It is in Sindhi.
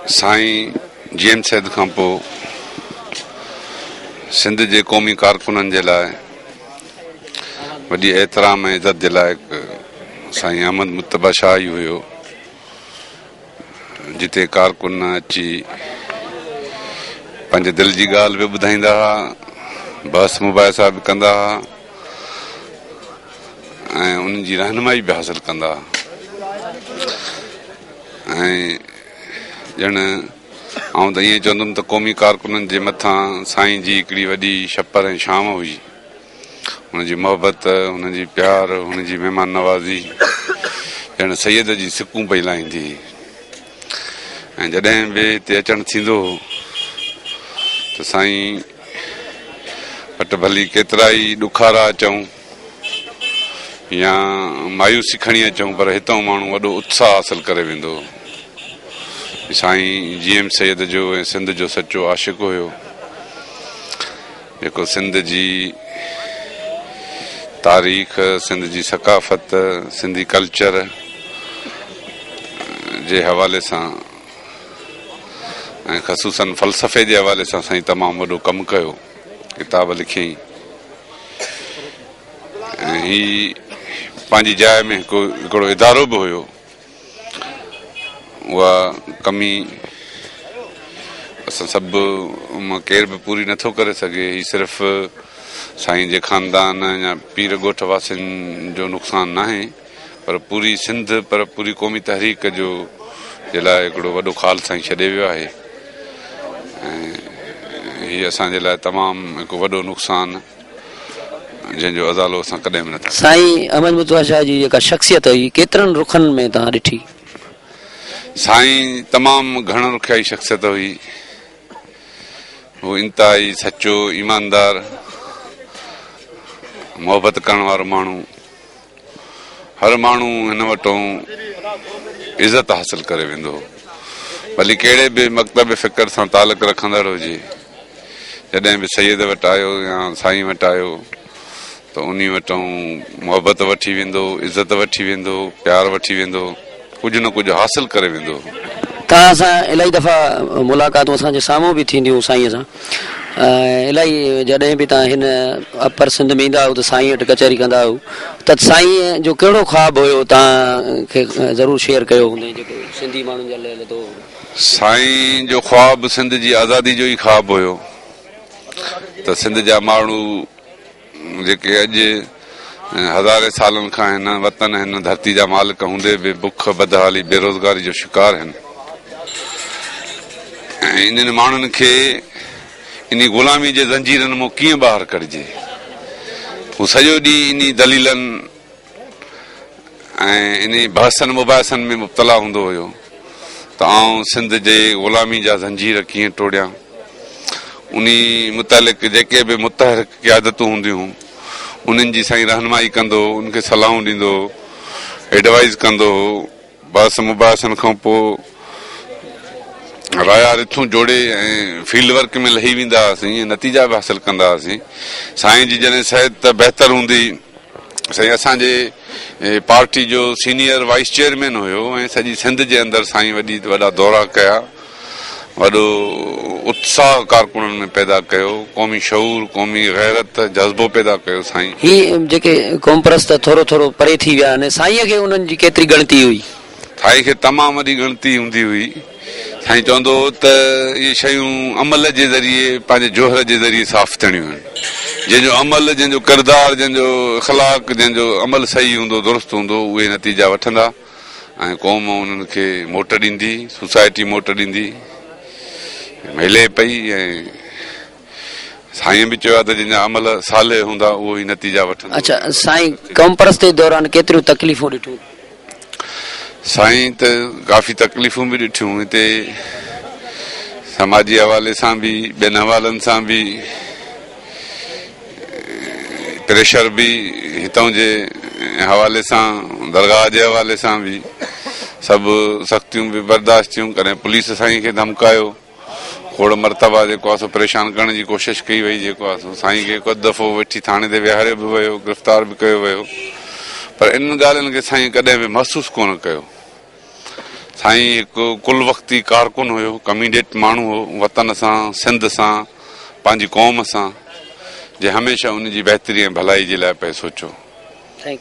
سائين جي ايم سيد کان پوء سنڌ جي قومي ڪارڪنن جي لاء وڏي احترام ۽ عزت جي لائق سائين احمد مجتبا شاهه ئي هيو جتي ڪارڪن اچي پنهنجي دل جي ڳالهه به ٻڌائيندا هئا بحث مباحثا به ڪندا هئا ۽ ان جي رهنمائي به حاصل ڪندا هئا ۽ ڄڻ آئون ته ائين چوندم ته قومي ڪارڪنن جي مٿان سائين جي هڪڙي وڏي شپر ۽ ڇانو هئي. هن جي محبت، هن جي پيار، هن جي مهمان نوازي ڄڻ سيد جي سڪون پئي لاهيندي هئي ۽ جڏهن به هتي اچڻ ٿيندو هو ته سائين وٽ ڀلي ڪيترائي ڏکارا اچون، يا مايوسي کڻي اچون پر هتئون ماڻهو وڏو اتساهه حاصل ڪري ويندو. سائين جي ايم سيد جو ۽ سنڌ جو سچو عاشق هيو جيڪو سنڌ جي تاريخ سنڌ جي ثقافت سنڌي ڪلچر جي حوالي سان ۽ خصوصن فلسفي جي حوالي سان سائين تمام وڏو ڪم ڪيو. ڪتاب لکيائين ۽ هي پنهنجي جاء ۾ هڪ هڪڙو ادارو به هيو اها ڪمي اسان سڀ مان ڪير به پوري نٿو ڪري سگهي هي صرف سائين جي خاندان يا پير ڳوٺ واسين جو نقصان ناهي پر پوري سنڌ پر پوري قومي تحريڪ جو جي لاء هڪڙو وڏو خال سائين ڇڏي ويو آهي هي اسان جي لاء تمام هڪ وڏو نقصان جنهن جو ازالو اسان ڪڏهن به نٿا سائين احمد متوا شاهه جي جيڪا شخصيت هئي ڪيترن رخن ۾ تان ڏٺي سائين تمام گهڻ رخيائي شخصيت هئي هو انتهائي سچو ايماندار محبت ڪرڻ وارو ماڻهو هر ماڻهو هن وٽون عزت حاصل ڪري ويندو هو ڀلي ڪهڙي به مڪتب فڪر سان تعلق رکندڙ هجي جڏهن به سيد وٽ آيو يا سائين وٽ آيو ته انهي وٽون محبت وٺي ويندو عزت وٺي ويندو پيار وٺي ويندو ڪجهه نه ڪجهه حاصل ڪري ويندو. توهان سان الائي دفعا ملاقاتون اسان جي سامهون به ٿينديون سائينء سان ۽ الائي جڏهن به توهان هن اپر سنڌ ۾ ايندا هئو ته سائينء وٽ ڪچهري ڪندا هئو ته سائينء جو ڪهڙو خواب هيو توهان کي ضرور شيئر ڪيو هوندئين جيڪو سنڌي ماڻهن جا لئه لڌو هو. سائين جو خواب سنڌ جي آزادي جو ئي خواب هيو ته سنڌ جا ماڻهو. جيڪي اڄ ۽ هزارين سالن کان هن وطن ۽ هن ڌرتي جا مالڪ هوندي به بک، بدحالي، بيروزگاري جو شڪار آهن ۽ انهن ماڻهن کي انهي غلامي جي زنجيرن مون ڪيئن ٻاهر ڪڍجي؟ هو سڄو ڏينهن انهي دليلن. ۽ انهي بحثن مباحثن ۾ مبتلا هوندو هيو ته آئون سنڌ جي غلامي جا زنجير ڪيئن ٽوڙيان. انهي متعلق جيڪي به متحرڪ قيادتون هونديون انهن جي سائين رهنمائي ڪندو هو، ان کي صلاحون ڏيندو هو، ايڊوائيز ڪندو هو. بحث مباحثن کان پوء رايا رٿون جوڙي ۽ فيلڊ ورڪ ۾ لهي ويندا هئاسين ۽ نتيجا به حاصل ڪندا هئاسين. سائين جي جڏهن صحت ته بهتر هوندي سائين اسان جي پارٽي جو سينيئر وائيس چيئرمين هيو ۽ سڄي سنڌ جي اندر سائين وڏي وڏا دورا ڪيا. وڏو اتساهه ڪارڪنن ۾ پيدا ڪيو قومي شعور قومي غيرت جذبو پيدا ڪيو سائين. هي جيڪي قومپرست ٿورو ٿورو پري ٿي ويا آهن سائينء کي انهن جي ڪيتري ڳڻتي هئي؟ سائين کي تمام وڏي ڳڻتي هوندي هئي سائين چوندو هو ته اهي شيون عمل جي ذريعي پنهنجي جوهر جي ذريعي صاف ٿيڻيون آهن جنهن جو عمل جنهن جو ڪردار جنهن جو اخلاق جنهن جو عمل صحيح هوندو درست هوندو اهي نتيجا وٺندا ۽ قوم انهن کي موٽ ڏيندي، سوسائٽي موٽ ڏيندي، ملي پئي ۽ سائين به چيو آهي ته جن جا عمل صالح هوندا اهو ئي نتيجا وٺندو. اڇا سائين قومپرستي دوران ڪيتريون تڪليفون ڏٺيون؟ سائين ته ڪافي تڪليفون به ڏٺيون هتي سماجي حوالي سان به ٻين حوالن سان به، پريشر به هتان جي حوالي سان درگاهه جي حوالي سان به سڀ سختيون به برداشت ٿيون ڪڏهن پوليس سائين کي ڌمڪايو کوڙ مرتبا جيڪو آهي سو پريشان ڪرڻ جي ڪوشش ڪئي وئي جيڪو آهي سو سائين کي هڪ اڌ دفعو وٺي ٿاڻي تي ويهاريو به ويو گرفتار به ڪيو ويو پر انهن ڳالهين کي سائين ڪڏهن به محسوس ڪونه ڪيو سائين هڪ ڪل وقتي ڪارڪن هيو، ڪميڊيٽ ماڻهو هو، وطن سان، سنڌ سان، پنهنجي قوم سان، جنهن هميشه ان جي بهتري ۽ ڀلائي جي لاء پئي سوچيو.